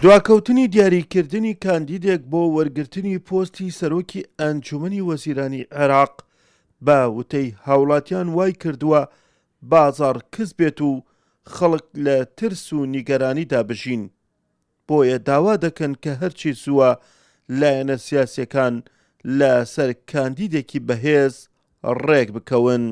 دواکەوتنی دیاریکردنی کاندیدێک بۆ وەرگرتنی پۆستی سەرۆکی ئەنجومەنی وەزیرانی عێراق، بە وتەی هاوڵاتیان وایکردووە بازاڕ کز بێت و خەڵک لە ترس و نیگەرانیدا بژین، بۆیە داوا دەکەن کە هەرچی زووە لایەنە سیاسییەکان لەسەر کاندیدێکی بەهێز رێکبکەون.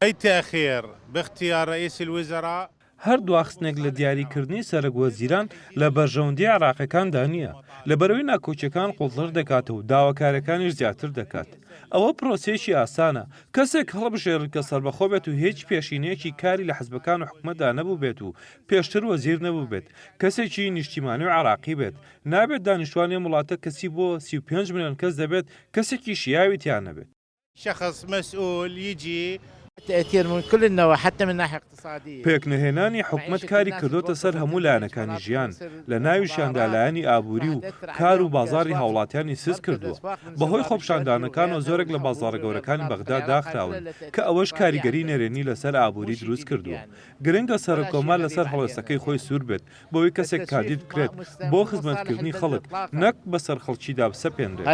ئەی تاخیر بختیار رئیس الوزراء؟ هەر دواخستنێک لە دیاریکردنی سەرەک وەزیران لە بەرژەوەندییە عێراقییەکاندا نییە، لەبەرئەوەی ناکۆکییەکان قوڵتر دەکات و داواکارییەکانیش زیاتر دەکات. ئەوە پرۆسەیەکی ئاسانە، کەسێک هەڵبژێرن کە سەربەخۆ بێت و هیچ پێشینەیەکی کاری لە حزبەکان و حکومەتدا نەبووبێت و پێشتر وەزیر نەبووبێت، کەسێکی نیشتیمانی و عێراقی بێت، نابێت دانیشتوانی ئەم وڵاتە کە چی بۆ سی و پێنج ملیۆن کەس دەبێت کەسێکی شیاوی تیا نەبێت. شخص مسئول یجی. تأثیر من کل النواحی حتی من ناحیە اقتصادیە. پێکنەهێنانی حکومەت کاری کردۆتە سەر هەموو لایەنەکانی ژیان، لە ناویشیاندا لایەنی ئابووری و کار و بازاڕی هاوڵاتیانی سست کردووە، بەهۆی خۆپیشاندانەکانەوە زۆرێک لە بازاڕە گەورەکانی بەغدا داخراون کە ئەوەش کاریگەری نەرێنی لەسەر ئابووری دروست کردووە. گرنگە سەرکۆمار لەسەر هەڵوێستەکەی خۆی سوور بێت بەوەی کەسێک کاندید بکرێت بۆ خزمەتکردنی خەڵک نەک بەسەر خەڵکیدا بسەپێنرێت.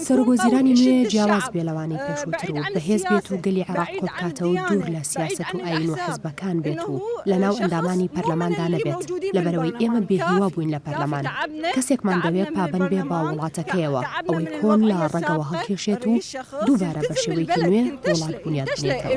سەرۆکوەزیرانی نوێ جیاواز بێ لەوانەی پێشووتر و بەهێز بێت و گەلی عێراق کۆ بکاتەوە و دوور لە سیاسەت و ئایین و حزبەکان بێت و لەناو ئەندامانی پەرلەماندا نەبێت، لەبەرئەوەی ئێمە بێ هیوا بووین لە پەرلەمان. کەسێکمان دەوێت پابەند بێ بە وڵاتەکەیەوە، ئەوەی کۆن لە ڕەگەوە هەڵکێشێت و دووبارە بە شێوەیەکی نوێ وڵات بونیاد بنێتەوە.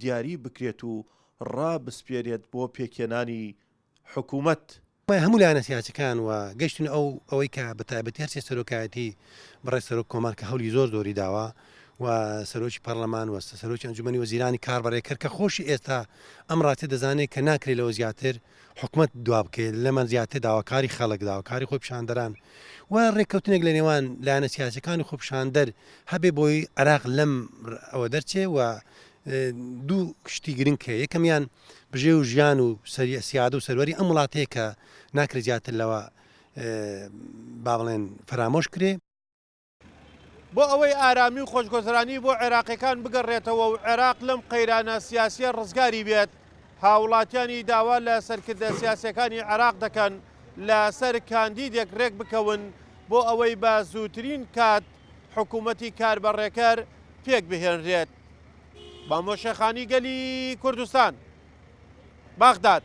دیاری بکرێت و ڕابسپێرێت بۆ پێکهێنانی حکوومەت. هەموو لایەنە سیاسیەکان و گەشتن ئەو ئەوەی کە بە تایبەتی هەرسێ سەرۆکایەتی بەڕێز سەرۆک کۆمار کە هەولی زۆر زۆری داوە و سەرۆکی پەرلەمان وەستە سەرۆکی ئەنجومەنی وەزیرانی کاربەڕێکەر کە خۆشی ئێستا ئەم ڕاستێ دەزانێت کە ناکرێت لەوە زیاتر حکومەت دوابکەوێت، لەمە زیاتر داواکاری خەڵک، داواکاری خۆپیشاندەران و رێککەوتنێک لە نێوان لایەنە سیاسیەکانی خۆپیشاندەر هەبێ بۆی عێراق لەم ئەوە دەرچێ و دوو شتی گرنگ کە یەکەمیان بژێ و ژیان و سەریە سیاد و سەروەری ئەم وڵاتەیە کە ناکرێت زیاتر لەوە با بڵێن فەرامۆش کرێ بۆ ئەوەی ئارامی و خۆشگۆزرانی بۆ عێراقیەکان بگەڕێتەوە و عێراق لەم قەیرانە سیاسیە ڕزگاری بێت، هاوڵاتیانی داوا لە سەرکردە سیاسیەکانی عێراق دەکەن لە سەر کاندیدێک رێک بکەون بۆ ئەوەی بە زووترین کات حکومەتی کاربەڕێکەر پێک بهێنرێت. مامۆ شێخانی گەلی کوردستان، بەغداد.